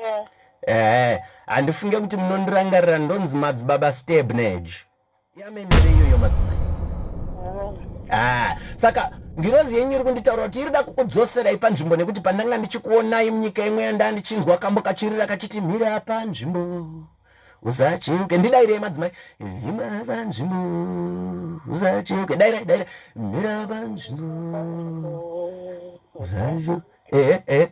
eh. ehe handifunge kuti munondirangarira ndonzi madzibaba steb nage yamenere iyoyo madzimai ah, saka ngirozi yenyu iri kunditaura kuti irida kukudzoserai panzvimbo nekuti pandanga ndichikuonai munyika imwe yandaa ndichinzwa kambo kachirira kachiti mira panzvimbo usacheuke ndidairei madzimai hima panzvimbo usacheuke dairai dairai mira panzvimbo usacheuke ehe ehe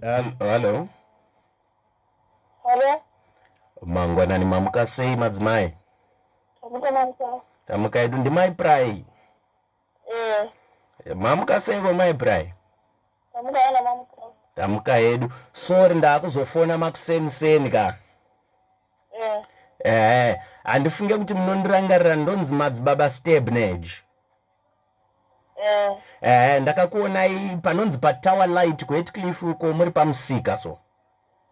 Hello. Hello. Mangwanani mamuka sei madzimai? Tamuka edu ndimai Prai. Eh. Mamuka seiko mai Brian? Tamuka yana mamuka. Tamuka hedu. Sorry ndakuzofona makuseni seni ka. Eh. Eh, handifunge kuti munondirangarira ndonzi madzibaba Stebnage. Eh. Eh, ndakakuonai panonzi pa Tower Light ku Heathcliff uko muri pamusika so.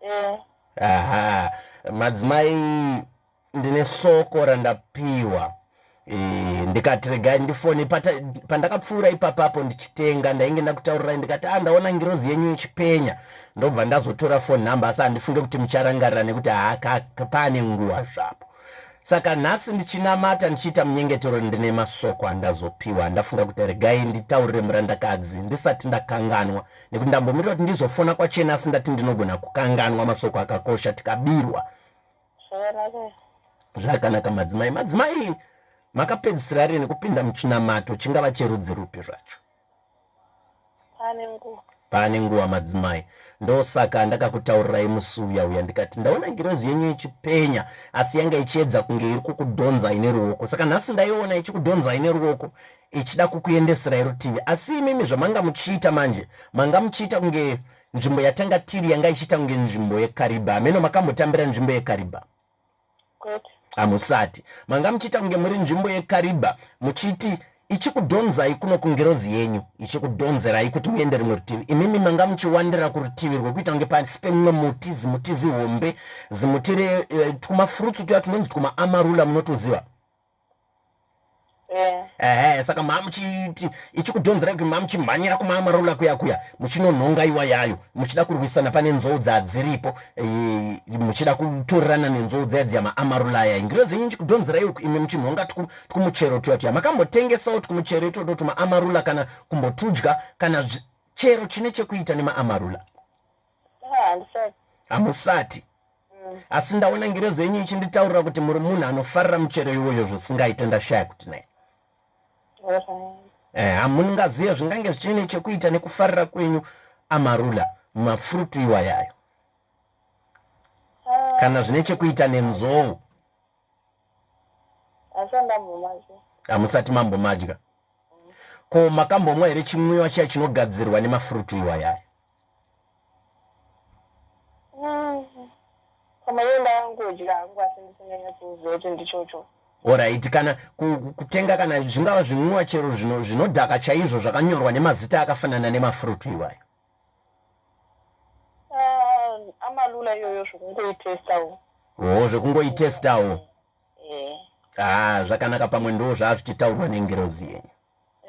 Eh. Aha. Madzimai ndine soko randapiwa e, ndikati regai ndifone pandakapfuura ipapapo ndichitenga ndainge ndakutaurirai ndikati a ah, ndaona ngirozi yenyu ichipenya ndobva ndazotora fone number asi handifunge kuti mucharangarira nekuti haakapane nguva zvapo saka nhasi ndichinamata ndichiita munyengetero ndine masoko andazopiwa ndafunga kuti regai nditaurire murandakadzi ndisati ndakanganwa nekuti ndambomirira kuti ndizofona kwachena asi ndati ndinogona kukanganwa masoko akakosha tikabirwa zvakanaka madzimai madzimai makapedzisira rini kupinda muchinamato chingava cherudzi rupi zvacho pane nguva madzimai ndosaka ndakakutaurirai musi uya uya ndikati ndaona ngirozi yenyu ichipenya asi yanga ichiedza kunge iri kukudhonzai neruoko saka nhasi ndaiona ichikudhonzai neruoko ichida kukuendeserai rutivi asi imimi zvamanga muchiita manje manga muchiita kunge nzvimbo yatanga tiri yanga ichiita kunge nzvimbo yekariba hameno makambotambira nzvimbo yekariba hamusati manga muchiita kunge muri nzvimbo yekariba muchiti ichikudhonzai kuno kungirozi yenyu ichikudhonzerai kuti muende rimwe rutivi imimi manga muchiwandira kurutivi rwekuita kunge pasi pemumwe muti zimuti zihombe zimuti re eh, twumafurutsu tuya tunonzi twumaamarula munotuziva Eh. ehe saka mamuchiti ichikudhonzera kuti mamuchimhanyira kumamarola kuya kuya muchinonhonga iwa yayo muchida kurwisana pane nzou dzadziripo eh, muchida kutorerana nenzou dzaya dziya maamarola aya ingiro zenyu chikudhonzera iyo imi muchinhonga twumuchero tuya tuya makambotengesawo twumuchero itwoto twumaamarula kana kumbotudya kana chero chine chekuita nemaamarula hamusati mm. asi ndaona ngirezo yenyu ichinditaurira kuti muri munhu anofarira muchero iwoyo zvisingaite ndashaya kuti nai eh, hamungazive eh, zvingange zvichine chekuita nekufarira kwenyu amarula mafrutu iwayayo ah. kana zvine chekuita nenzou hamusati mambomadya ko makambomwa here chimwiwa chiya chinogadzirwa nemafrutu iwayayo Mm. Pamaenda yangodya hangu asi ndisinyanya kuziva kuti ndichocho. Alright, kana kutenga kana zvingava zvinwiwa chero zvino zvinodhaka chaizvo zvakanyorwa nemazita akafanana nemafruit iwayo. Ah, amalula iyoyo zvekungoitestawo. Oh, zvekungoitestawo. eh. ah, zvakanaka pamwe ndo zvaazvichitaurwa nengirozi yenyu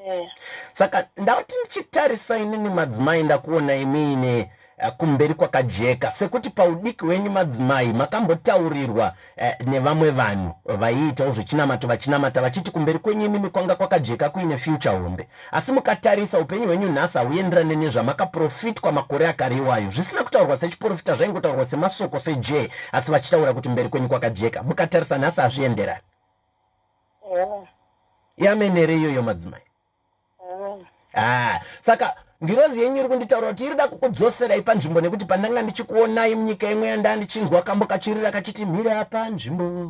eh. saka ndauti ndichitarisa inini madzimai ndakuona imiine eh, kumberi kwakajeka sekuti paudiki wenyu madzimai makambotaurirwa eh, nevamwe vanhu vaiitawo zvechinamato vachinamata vachiti kumberi kwenyu imimi kwanga kwakajeka kuine future hombe asi mukatarisa upenyu hwenyu nhasi hauenderane nezvamakaprofitwa makore akare iwayo zvisina kutaurwa sechiprofita zvaingotaurwa semasoko sejee asi vachitaura kuti mberi kwenyu kwakajeka mukatarisa nhasi hazvienderani yamene here iyoyo madzimai ah, saka ngirozi yenyu iri kunditaura kuti irida kukudzoserai panzvimbo nekuti pandanga ndichikuonai munyika imwe yandaa ndichinzwa kambo kachirira kachiti mhiri apa nzvimbo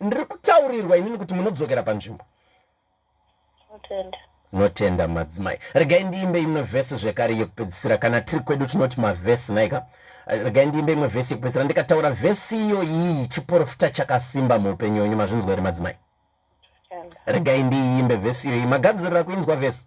ndiri kutaurirwa inini kuti munodzokera panzvimbo notenda madzimai regai ndiimbe imwe vhesi zvekare yekupedzisira kana tiri kwedu tinoti mavhesi naika regai ndiimbe imwe vhesi yekupedzisira ndikataura vhesi iyo iyi chiporofita chakasimba muupenyu wenyu mazvinzwa here madzimai regai ndiiimbe vhesi iyoyi magadzirira kuinzwa vhesi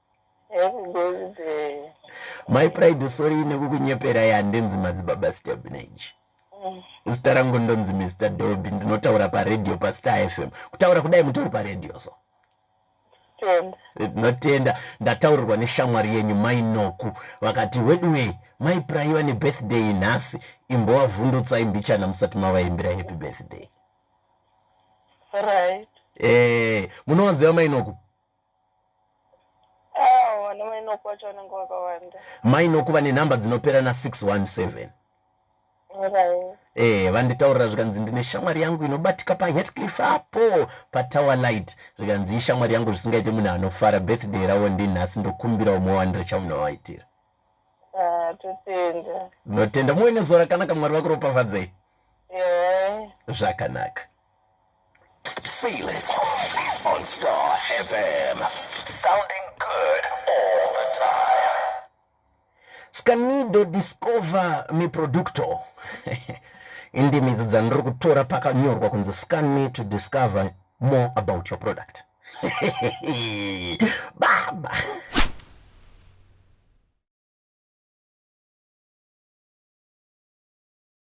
my pride sorry nekukunyepera yandinzi madzibaba stabnage mm. zita rangu ndonzi mr dolby ndinotaura paradio pastar fm kutaura kudai mutori paradio so tinotenda ndataurirwa neshamwari yenyu mai noku vakati weduwei mai purayi vane birthday nhasi imbovavhundutsai mbichana musati mavaimbira happy birthday right. e, munovaziva mai noku mai noku vane nhamba dzinopera na 617 eh vanditaurira zvikanzi ndine shamwari yangu inobatika pahetcliff apo patower light zvikanzi ishamwari yangu zvisingaite munhu anofara birthday ravo ndinhasi ndokumbira umwe wandira chamunovaitira ah, totenda notenda muwe nezuva rakanaka mwari vakuropafadzei zvakanaka yeah. Feel it on Star FM. Sounding good all the time. Scanido discover mi producto. Indimi idzi dzandiri kutora pakanyorwa kunzi scan me to discover more about your product. Baba.